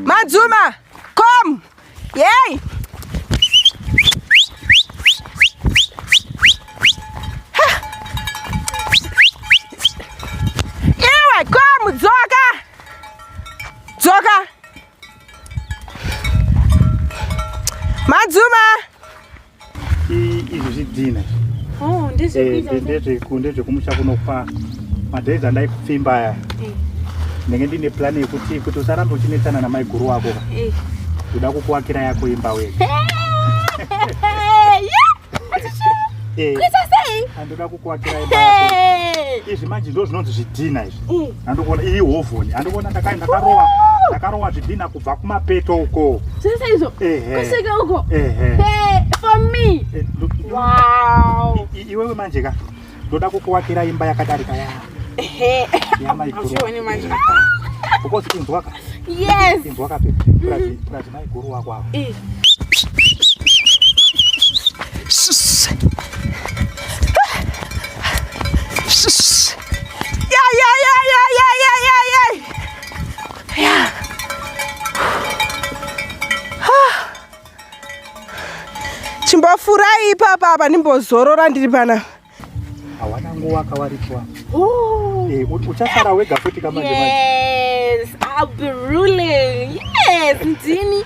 Madzuma, come. Yay. Iwe, come, dzoka. Dzoka. Madzuma. izvi zvidhina oh, ndezvekumusha eh, kunopa madays andaikupfimba aya eh. ndenge ndine plan yekuti kuti usarambe uchinetsana namaiguru wako ka eh. uda kukuwakira yako imba we andoda kukuwakira imba izvi manje ndo zvinonzi zvidhina izvi andokuona iyi hovhoni andokuona ndakarowa ndakarowa zvidhina kubva kumapeto uko zvese izvo kusvika uko for me eh, wow iwewe manje ka ndoda kukuwakira imba yakadarika ya yamaiguru manje because inzwaka yes inzwaka pe purazi maiguru wako awo Yeah. chimbofurai ipapa apa ndimbozorora ndiri pana hawana nguva kawarikwa eh, uchasara wega futi kamanje yes i'll be ruling yes ndini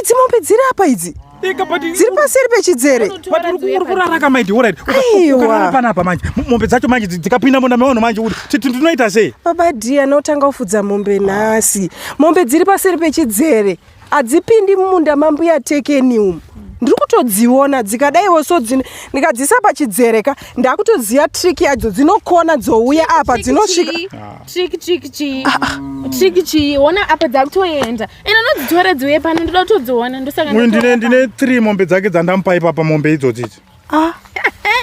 idzi mombe dziri apa idzi dziri paseri pechidzere panapa manje mombe dzacho manje dzikapinda munda mevanhu manje kuti tinoita sei baba d anotanga kufudza mombe nhasi mombe dziri paseri pechidzere hadzipindi mumunda mambuya tekeni umu ndiri kutodziona dzikadaiwo so ndikadzisa pachidzere ka ndakutoziva trick yadzo dzinokona dzouya apa dzinosvika ah. ino nodzitora dziuye pano ndoda kutodziona ndosangauyu ndine ndine three mombe dzake dzandamupa ipapa mombe idzodzi idzi ah.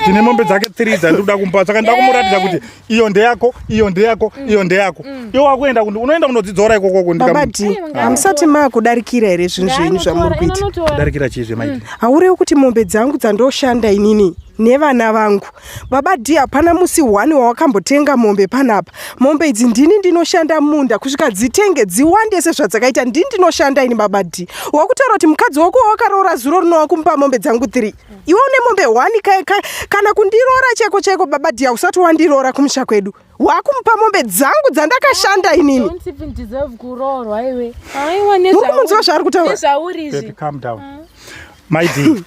ndine mombe dzake three dzandikuda kumupa saka nda kumuratidza kuti iyo ndeyako iyo ndeyako mm. iyo ndeyako mm. iyo wakuenda kundi unoenda kunodzidzora ikokoko babati hamusati makudarikira here zvinhu zvenyu zvamuri kuita kudarikira chii zvemaiti mm. haurewi kuti mombe dzangu dzandoshanda inini nevana vangu baba d hapana musi one wawakambotenga mombe panapa mombe idzi ndini ndinoshanda munda kusvika dzitenge dziwande sezvadzakaita ndini ndinoshanda ini baba d wakutaura kuti mukadzi wako wawakaroora zuro rinowa kumupa mombe dzangu three iwe une mombe one ka, ka, kana kundiroora chaiko chaiko baba d hausati wandiroora kumusha kwedu wakumupa mombe dzangu dzandakashanda inini ukumunziwa zvaari kutaura maidii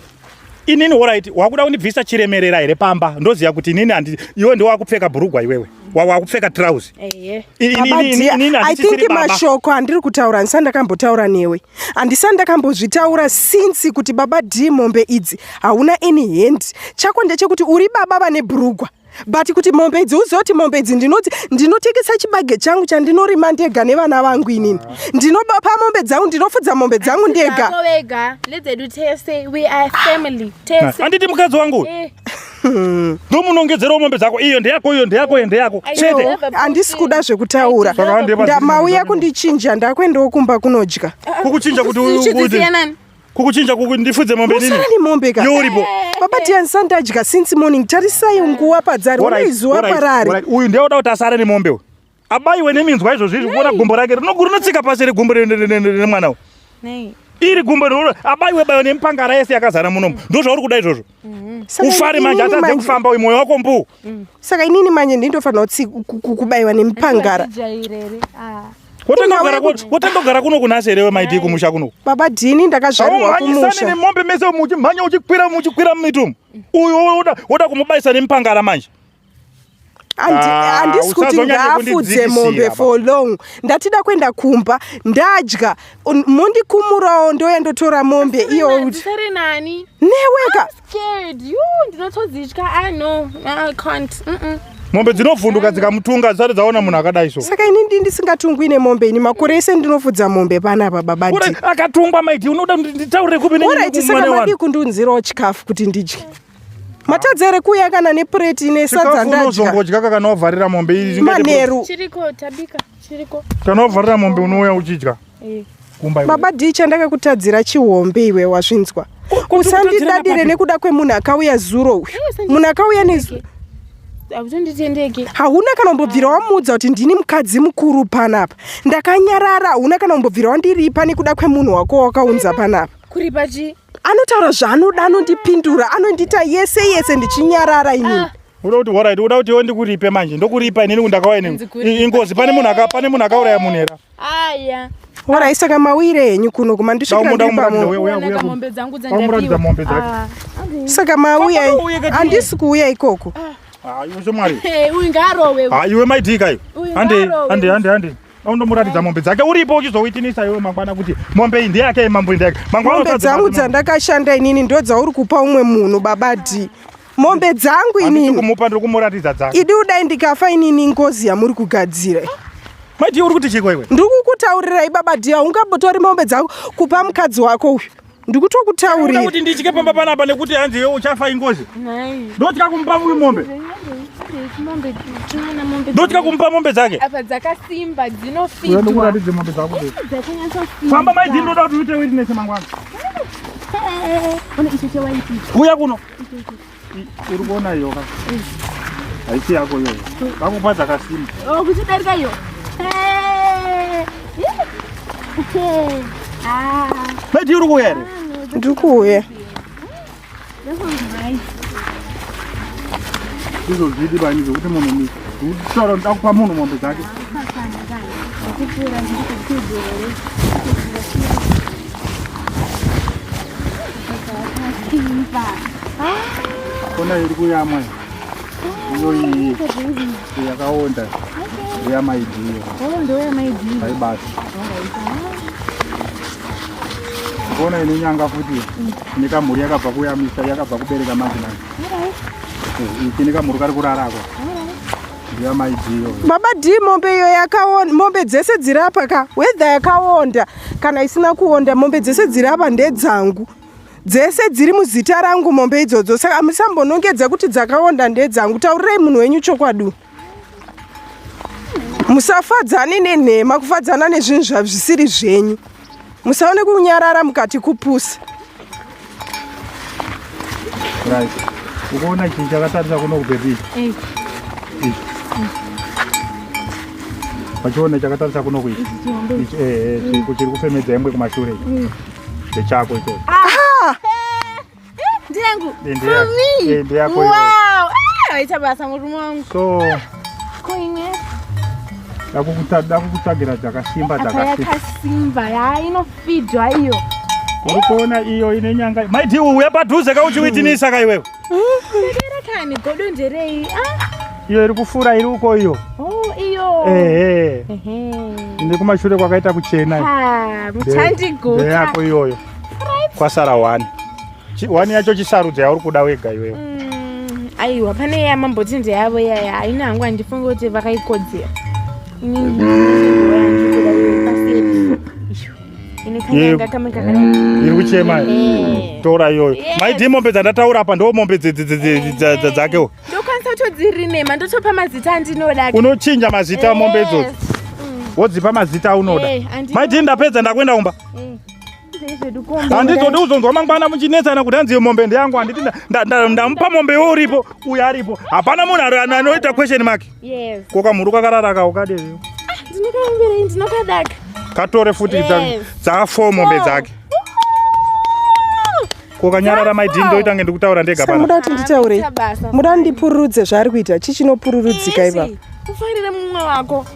inini orit wakuda kundibvisa chiremerera here pamba ndoziva kuti inini handi iwe ndo wakupfeka bhurugwa iwewe wakupfeka trouse i think mashoko andiri kutaura handisani ndakambotaura newe handisani ndakambozvitaura since kuti baba d mombe idzi hauna any hand chako ndechekuti uri baba vane bhurugwa but kuti mombe idzi uzive kuti mombe idzi ndinoti ndinotengesa chibage changu chandinorima ndega nevana vangu inini ndinobapa mombe dzangu ndinofudza mombe dzangu ndega handiti mukadzi wangu eh. ndomunongedzerawo mombe dzako iyo ndeyako iyo ndeyako iyo ndeyako chete handisi kuda zvekutaura mauya kundichinja ndakuendawo kumba kunodya kukuchinja kuti kukuchinja kuku ndifudze mombe nini usarani mombe ka yuripo eh, baba eh. tiani sandadya since morning tarisai nguva padzari ona izuva parari uyu ndiye oda kuti asare nemombe uyu abaiwe neminzwa izvozvi izvi kuona gumbo rake rinotsika pasi regumbo remwana uyu iri gumbo abaiwe baiwe nemipangara yese yakazara munomu ndozvauri kuda izvozvo Mm-hmm. ufare manje atadze kufamba uyu mwoyo wako mbu mm. saka inini manje ndindofanira kubaiwa nemupangara ah. wotandogara kuno kunasi here wemaidii kumusha kuno baba dhini ndakazvarirwa kumusha nemombe mese muchimhanya uchikwira muchikwira mumitumu uyu woda kumubaisa nemupangara manje handisi ah, kuti ngaafudze mombe for long ndatida kuenda kumba ndadya mondikumurawo ndoya ndotora mombe iyo neweka mombe dzinovhunduka dzikamutunga dzisati dzaona munhu akadai so saka ini ndi ndisingatungwi nemombe ini makore ese ndinofudza mombe pana baba badi akatungwa maiti unoda nditaurire kupi orit saka madii kundiunzirawo chikafu kuti ndidye matadza here kuuya kana nepureti ine sadza ndadyaunozongodya kakana wavharira mombe manheru kana wavharira mombe unouya uchidya eh. baba dii chandakakutadzira chihombe iwe wazvinzwa usandidadire nekuda kwemunhu akauya zuro uyu munhu akauya nezuro hautonditendeki hauna kana umbobvira wamuudza kuti ndini mukadzi mukuru panapa ndakanyarara hauna kana umbobvira wandiripa nekuda kwemunhu wako wakaunza panapa kuripa chii anotaura zvaanoda anondipindura anondiita yese yese ndichinyarara inini ah. uda kuti horit uda kuti iwe ndikuripe manje ndokuripa inini kundakauya inini ingozi pane munhu pane munhu akauraya munhu hera aya horai saka mauire henyu kuno kuma ndisvikiraombe dzangu ah. saka mauya handisi kuuya ikoko ah. ah, iwe shamwari uyu ngaarowe iwe maidii kayo hande hande hande hande undomuratidza mombe dzake uripo uchizoitinisa iwe mangwana kuti mombe iyi ndeyake mambo ndeyake mangwanamombe dzangu dzandakashanda inini ndo dzauri kupa umwe munhu baba d mombe dzangu inikumupa ndiri kumuratidza dzangu idi udai ndikafa inini ngozi yamuri kugadzira madi uri kuti chiko iwe ndiri kukutaurirai baba d haungabotori mombe dzangu kupa mukadzi wako uyu ndikutokutaurira kuti nditye pamba panapa nekuti hanzi iwe uchafa ingozi ndotya kumupa uyu mombe ndotya kumupa mombe dzake apa dzakasimba dzinofiuratidze mombe dzako famba maidii ndoda kuti uite witness mangwana uya kuno Uri kuona iyo ka? Haisi yako iyo. Kakupa dzakasimba. Oh, kuchidarika iyo. Eh. Ah. Medi uri kuuya here? Ndiri kuuya. That was nice. Izvo zvidi bani zvekuti munhu mi. Kutaura kuti ndakupa munhu mombe dzake. Kupfura ndikuti kuzere. Kona iri kuyamwa iyo iyi yakaonda ndeyamaidiyo aibasa kona inonyanga futi nekamhuri yakabva kuyamisa yakabva kubereka manje manje iki nekamhuri kari kurarako baba d mombe iyo yakaonda mombe dzese dziri apa ka wedha yakaonda kana isina kuonda mombe dzese dziri apa ndedzangu dzese dziri muzita rangu mombe idzodzo saka musambonongedza kuti dzakaonda ndedzangu taurirei munhu wenyu chokwadi musafadzane nenhema kufadzana nezvinhu zvazvisiri zvenyu musaone kunyarara mukati kupusa Right. Ukaona chinhu chakatarisa kuno kubhebhi. Eish. Wachiona chakatarisa kuno kuichi. Ichi chihombe. Ichi eh eh chiri kufemedza ingwe kumashure. Eish. Ndechako icho. Ah! Ndiyangu. Eh, ndiya- For me. eh, ndiyako iwe. Wow. Ah, Aita basa murume wangu. So Koine. dakukuta- dakukutsvagira dzakasimba Apa dzakasimba. yakasimba. Yaa ino Fidwa iyo. Uri kuona iyo ine nyanga. Mai Diwu uya padhuze ka uchiwitinisa ka iwewe. Ndera kani godo nderei? Ah. Iyo iri kufura iri uko iyo. Oh, iyo. Ehe. Ehe. Ndi kumashure kwakaita kuchena. Ha, mutandi guta. Ndeyako iyoyo. Kwasara wani. Chiwani yacho chisarudza yauri kuda wega iwewe. Mm, aiwa pane ya mambo tinze yavo yaya haina hangu handifunge kuti vakaikodzera. iri kuchema tora iyoyo maidii mombe dzandataura apa ndo mombe dzakewo ndokwanisa kutodzirinema ndotopa mazita andinoda unochinja mazita mombe idzodzo wodzipa mazita aunoda maidii ndapedza ndakuenda kumba handizodi kuzonzwa mangwana muchinetsana kuti hanzi mombe ndeyangu handiti ndamupa mombe yo uripo uyo aripo hapana munhu anoita question mark ko kamhuru kakarara ka ukadii ah, katore futi dzafo mombe dzake ko kanyarara maidini ndoita kunge ndikutaura ndega panoda kuti nditaure muda ndipururudze zvaari kuita chii chinopururudzika ipapa ufarire mumwe wako